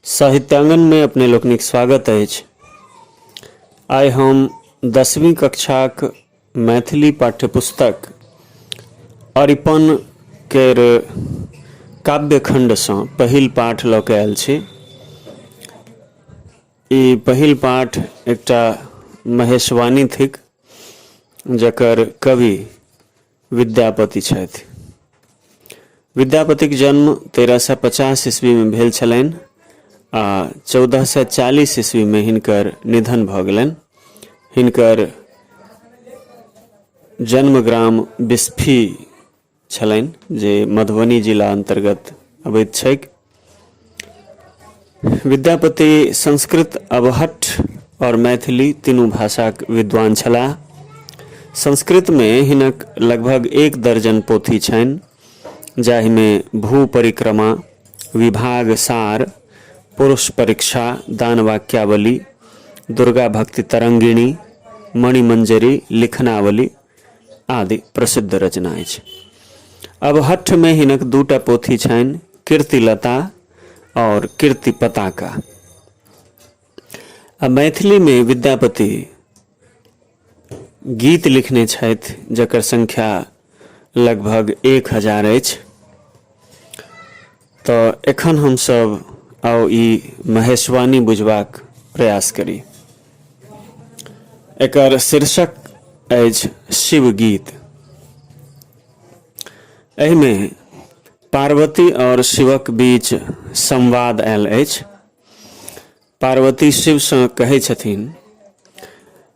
साहित्यांगनमे अपने लोकनिक स्वागत अछि आइ हम दसवीं कक्षाक मैथिली पाठ्यपुस्तक अरिपन केर काव्यखण्डसँ पहिल पाठ लऽ कऽ आयल छी ई पहिल पाठ एकटा महेशवाणी थिक जकर कवि विद्यापति छथि विद्यापतिक जन्म तेरह सए पचास ईस्वीमे भेल छलनि आ चौदह सए चालीस ईस्वीमे हिनकर निधन भऽ गेलनि हिनकर जन्मग्राम बिस्फी छलनि जे मधुबनी जिला अन्तर्गत अबैत छैक विद्यापति संस्कृत अवहट और मैथिली तीनू भाषाक विद्वान छलाह संस्कृतमे हिनक लगभग एक दर्जन पोथी छनि जाहिमे भू परिक्रमा विभाग सार पुरुष परीक्षा दान वाक्यावली दुर्गा भक्ति तरंगिणी मणिमंजरी लिखनावली आदि प्रसिद्ध रचना अछि अब हठ में हिनक दूटा पोथी छनि कीर्तिलता और कीर्ति पताका आ मैथिली में विद्यापति गीत लिखने छथि जकर संख्या लगभग एक हजार अछि तँ एखन हमसभ आउ ई महेशवाणी बुझबाक प्रयास करी। एकर शीर्षक अछि शिवगीत। एहिमे पार्वती आओर शिवक बीच संवाद आयल अछि। पार्वती शिवसँ कहै छथिन।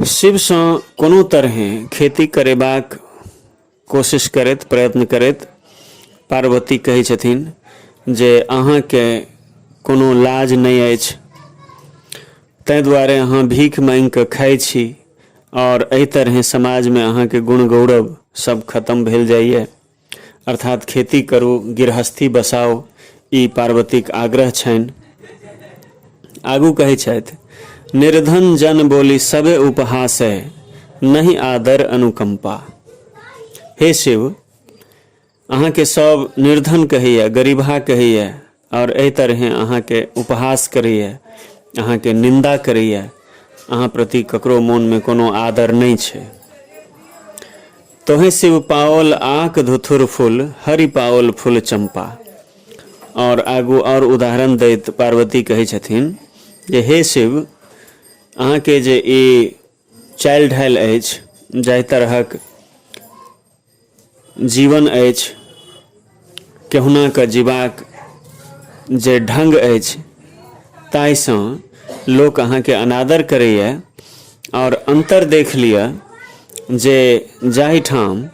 शिवसँ कोनो तरहेँ खेती करेबाक कोशिश करैत प्रयत्न करैत पार्वती कहै छथिन जे अहाँके कोनो लाज नहि अछि ताहि दुआरे अहाँ भीख मांगि कऽ खाइ छी आओर एहि तरहेँ समाजमे अहाँके गुण गौरव सब खतम भेल जाइए अर्थात् खेती करू, गिरहस्थी बसाउ, ई पार्वतीक आग्रह छनि। आगू कहै छथि, निर्धन जन बोलि सभे उपहासै, नहि आदर अनुकम्पा। हे शिव, अहाँके सभ निर्धन कहैए, गरीबहा कहैए। आओर एहि तरहें अहाँके उपहास करैए अहाँके निन्दा करैए अहाँ प्रति ककरो मोनमे कोनो आदर नहि छै तोहे शिव पाओल आक धुथुर फूल हरि पाओल फूल चंपा आओर आगू आओर उदाहरण दैत पार्वती कहै छथिन जे हे शिव अहाँके जे ई चालि ढालि अछि जाहि तरहक जीवन अछि केहुना कऽ जीबाक जे ढंग अछि ताहिसँ लोक अहाँके अनादर करैए आओर अन्तर देख लिअ जे जाहिठाम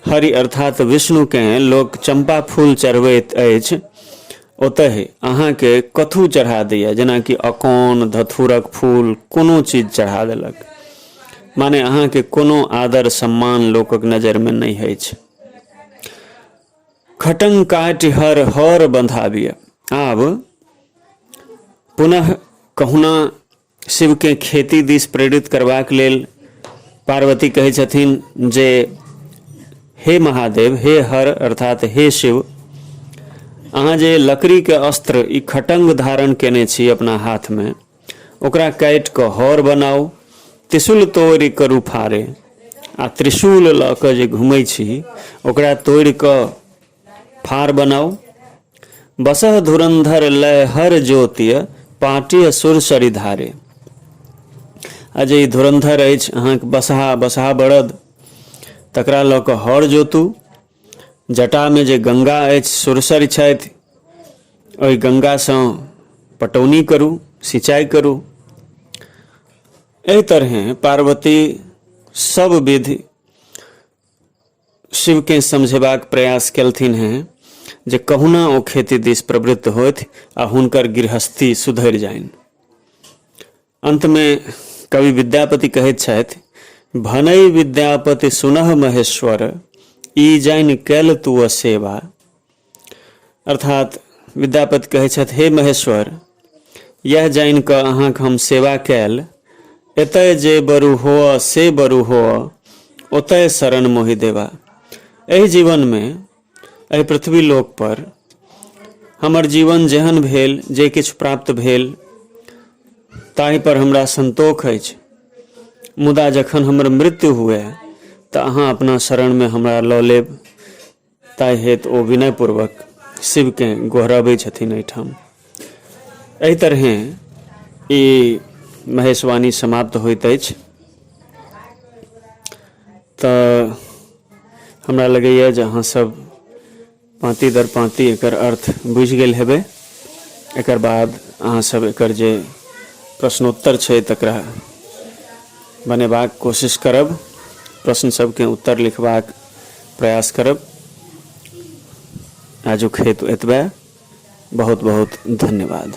हरि अर्थात विष्णुकेँ लोक चम्पा फूल चढ़बैत अछि ओतहि अहाँके कथू चढ़ा दैए जेनाकि अकौन धथुरक फूल कोनो चीज चढ़ा देलक माने अहाँके कोनो आदर सम्मान लोकक नजरमे नहि अछि खटंग काटि हर हर बंधाबिय आब पुनः कहुना शिवकेँ खेती दिस प्रेरित करबाक लेल पार्वती कहै छथिन जे हे महादेव हे हर अर्थात हे शिव अहाँ जे लकड़ीके अस्त्र ई खटङ्ग धारण केने छी अपना हाथमे ओकरा काटि कऽ हर बनाउ त्रिशूल तोड़ि करू फाड़े आ त्रिशूल लऽ कऽ जे घुमै छी ओकरा तोड़ि कऽ फार बनाउ बसह धुरंधर लय हर ज्योतिय पाटिय सुर सरि धारे आ जे ई धुरंधर अछि अहाँके बसहा बसहा बड़द तकरा लऽ कऽ हर जोतू जटामे जे गंगा अछि सुरसरि छथि ओहि गंगासँ पटौनी करू सिंचाइ करू एहि तरहें पार्वती सब विधि शिवकेँ समझेबाक प्रयास केलथिन हेँ जे कहुना ओ खेती दिस प्रवृत्त होथि आ हुनकर गृहस्थी सुधरि जानि अन्तमे कवि विद्यापति कहैत छथि भनई विद्यापति सुनह महेश्वर ई जानि कैल तू सेवा अर्थात विद्यापति कहै छथि हे महेश्वर यह जान कऽ अहाँक हम सेवा कैल एतय जे बरु हो से बरु हो ओतय शरण मोहि देवा एहि जीवन में एहि पृथ्वी लोक पर हमर जीवन जेहन भेल जे किछु प्राप्त भेल ताहि पर हमरा संतोख अछि मुदा जखन हमर मृत्यु हुए तऽ अहाँ अपना शरण में हमरा लऽ लेब ताहि हेतु ओ विनयपूर्वक शिवकेँ गोहराबै छथिन एहिठाम एहि तरहे ई महेशवाणी समाप्त होइत अछि तऽ हमरा लगैए जे अहाँसभ पाँती दर पाँती एकर अर्थ बुझि गेल हेबै एकर बाद अहाँसभ एकर जे प्रश्नोत्तर छै तकरा बनेबाक कोशिश करब प्रश्न सभके उत्तर लिखबाक प्रयास करब आजुक हेतु एतबे बहुत बहुत धन्यवाद